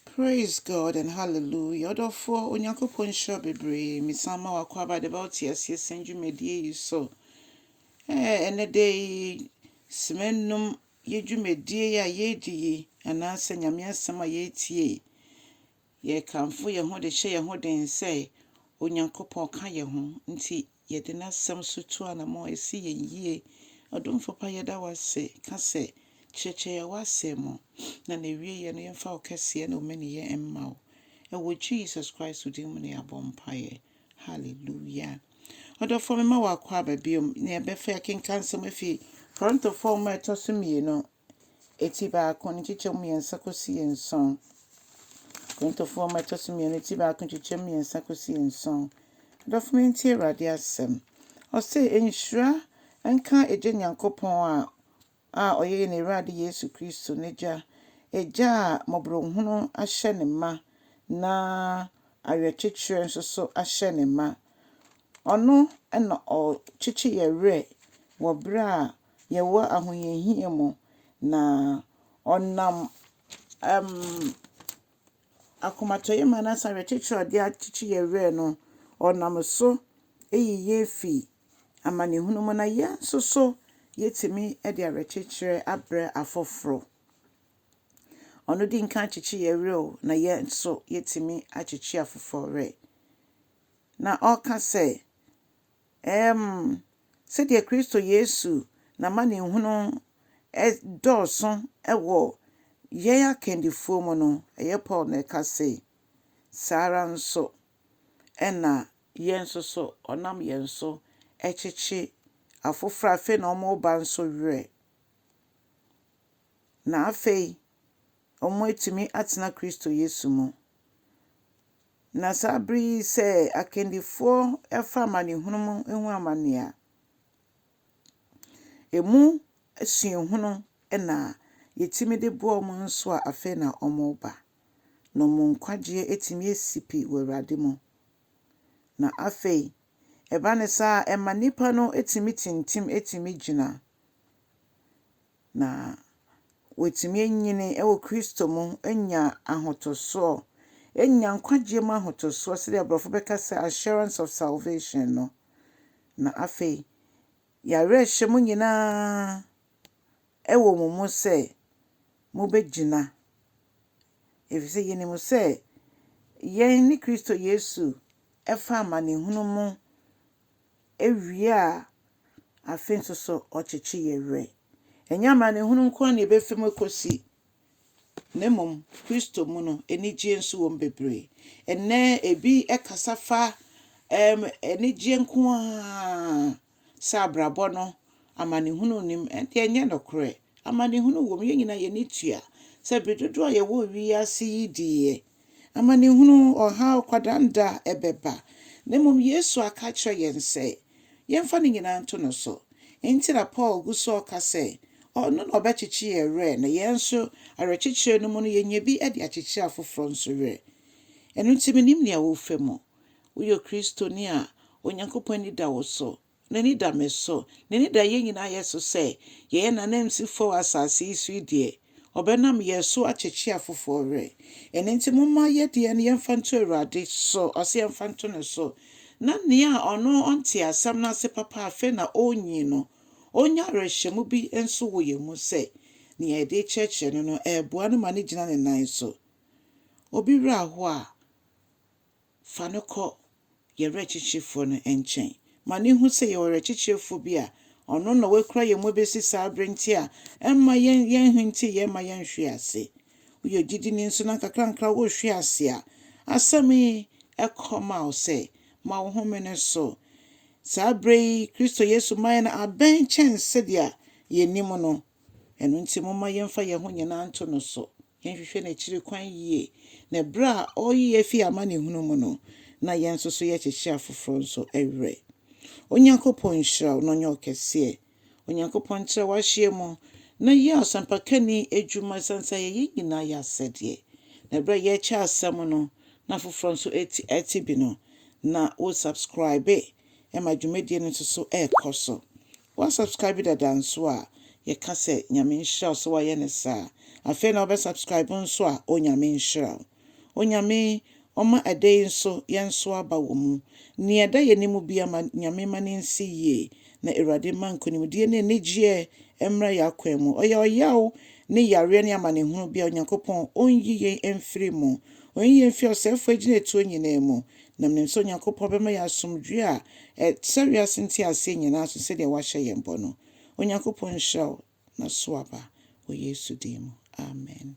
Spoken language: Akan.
Praise God and hallelujah ɔdɔfoɔ Onyankopɔn nhyira wo bebree mesan ma w'akwaaba de ba wo teaseɛ sɛn dwumadie yi so ɛɛ ɛnɛ da yi sima nnum yɛ dwumadie yi a yɛredi yi anaasɛ Nyame asɛm a yɛretie yi yɛkamfo yɛn ho de hyɛ yɛn ho den sɛ Onyankopɔn ka yɛn ho nti Yɛde n'Asɛm so tu anamɔn a ɛsi yɛn yie. Ɔdomfo pa yɛda wo ase ka sɛ, Kyerɛkyerɛ yɛn w'Asɛm mu, na n'awieɛ no yɛmfa wo kɛseɛ ne wo mɛneyɛ mma wo. Ɛwɔ Jesus Christ din mu na yɛabɔ mpaeɛ. Hallelujah. Ɔdɔfoɔ mema wo akwaaba biom na yɛbɛfa yɛakenka nsɛm afi Korintofoɔ nwoma a ɛtɔ so mmienu ti baako ne nkyekyɛmu mmiɛnsa kɔsi nson. Korintofoɔ nwoma ɛtɔ so mmienu ti baako nkyekyɛmu mmiɛnsa kɔsi nson. Adɔfo mo ntie Awurade asɛm. Ɔse nhyira nka Agya Nyankopɔn a a ɔyɛ yɛn Awurade Yesu Kristo n'Agya, Agya a mmɔborɔhunu ahyɛ ne ma na awerɛkyekyerɛ nso so ahyɛ ne ma. Ɔno na ɔkyekye yɛn werɛ wɔ berɛ a Yehowa ahohiahia mu, na ɔnam um, akomatɔyam anaasɛ awerɛkyekyerɛ a ɔde akyekye yɛn werɛ no, ɔnam so yi yɛn fi amanehunu mu, na yɛn nso so yɛtumi de awerɛkyekyerɛ abrɛ afoforo. Ɔno di nka akyekye yɛn werɛ o, na yɛn nso yɛtumi akyekye afoforo werɛ. Na ɔka sɛ, Ɛɛm, sɛdeɛ Kristo Yesu n'amanehunu dɔɔso wɔ yɛn akandifoɔ mu no, ɛyɛ Paul na ɛka sei, saa ara nso na yɛn nso so ɔnam yɛn so kyekye afoforɔ a afei na wɔreba nso werɛ. Na afei wɔatumi atena Kristo Yesu mu. Na saa bere yi sɛ akandifoɔ fa amanehunu mu hu amane a, ɛmu suahunu na yɛtumi de boa wɔn nso a afei na wɔreba, na wɔn nkwagyeɛ atumi asi pi wɔ Awurade mu. Na afei, ɛba no saa a, ɛma nnipa no tumi tintim tumi gyina. Na wɔatumi anyini wɔ Kristo mu, anya ahotosoɔ, anya nkwagyeɛ mu ahotosoɔ, sɛdeɛ aborɔfo bɛka sɛ assurance of salvation no. Na afei, yɛawerɛhyɛ mo nyinaa wɔ mo mu sɛ mobɛgyina, ɛfiri sɛ yɛnim sɛ yɛn ne Kristo Yesu fa amanehunu mu Ewie a, afe nso so ɔkyekye yɛn werɛ. Ɛnyɛ amanehunu nko ara na ebefi mu akosi, na mmom Kristo mu no, anigye nso wom bebree. Ɛnnɛ ebi kasa fa ɛɛm anigye nko ara sɛ abrabɔ no amanehunu nnim. Ɛnde ɛnyɛ nokorɛ. Amanehunu wom, yɛn nyinaa yɛn ani tua sɛ bere dodow a yɛwɔ wiase yi de yɛ amanehunu, ɔhaw, kwadaanda ɛbɛba. Na mmom Yesu aka akyerɛ yɛn sɛ yɛmfa ne nyinaa nto no so. Enti na Paul gu so reka sɛ ɔno na ɔbɛkyekye yɛn werɛ, na yɛn nso awerɛkyekyerɛ no mu no yɛnya bi de akyekyere afoforɔ nso werɛ. Ɛno nti mennim nea worefa mu. Woyɛ Kristoni a, Onyankopɔn ani da wo so. N'ani da me so. N'ani da yɛn nyinaa yɛ so sɛ yɛyɛ n'ananmusifo wɔ asase yi so yi deɛ, ɔbɛnam yɛn so akyekye afoforɔ werɛ. Ɛno nti momma yɛ deɛ no yɛmfa nto Awurade so, ɔse yɛmfa nto ne so, na nea ɔno ɔntee asɛm no ase papa afei na ɔrenyin no, ɔnya awerɛhyɛmu bi nso wɔ yɛn mu sɛ nea yɛde rekyerɛkyerɛ no no ɛreboa no ma no gyina ne nan so. Obi werɛ ahoɔ a, Fa no kɔ yɛn werɛkyekyerefo no nkyɛn ma no nhu sɛ yɛwɔ werɛkyekyerefo bi a ɔno na wakura yɛn mu abesi saa bere nti a ɛmma yɛnhintiw, yɛmma yɛnhwe ase. Woyɛ ogyidini nso na nkakrankakra worehwe ase a, asɛm yi kɔ ma wo sɛ, Ma wo ho mene so. Saa bere yi Kristo Yesu mmae no abɛn kyɛn sɛnea yenim no. Ɛno nti, momma yɛmfa yɛn ho nyinaa nto no so, yɛnhwehwɛ n'akyiri kwan yie, na ɛberɛ a ɔreyi yɛn afiri amanehunu mu no, na yɛn nso so yɛkyekye afoforɔ nso werɛ. Onyankopɔn nhyira wo na ɔnyɛ wo kɛseɛ. Onyankopɔn ntra w'ahyeɛ mu na yɛ asɛmpakani adwuma ɛsiane sɛ ɛyɛ yɛn nyinaa yɛ asɛdeɛ. Na ɛberɛ a yɛrekyɛ asɛm no na afoforɔ nso ɛte bi no, na wo subscribe ma dwumadie no nso so ɛrekɔ so. Wa subscribe dada nso a yɛka sɛ Nyame nhyira wo sɛ wayɛ no saa. Afei na wobɛ subscribe nso a Onyame nhyira wo. Onyame ɔma ɛdɛ yi nso yɛnso aba wɔ mu. Nea ɛda yɛn anim biara ma Nyame ma no nsi yie na Awurade mma nkonimdie ne anigyeɛ mmra yɛn akwan mu. Ɔyɛ ɔyaw ne yareɛ ne amanehunu biara Onyankopɔn ɔnyi yɛn mfiri mu. Ɔnyi yɛn mfiri ɔsɛefoɔ agyinatuo nyinaa mu Nam nim sɛ Onyankopɔn bɛma yɛn asomdwoeɛ a ɛsɛ wiase nteaseɛ nyinaa so sɛdeɛ wahyɛ yɛn bɔ no. Onyankopɔn nhyira wo na so aba wɔ Yesu din mu. Amen.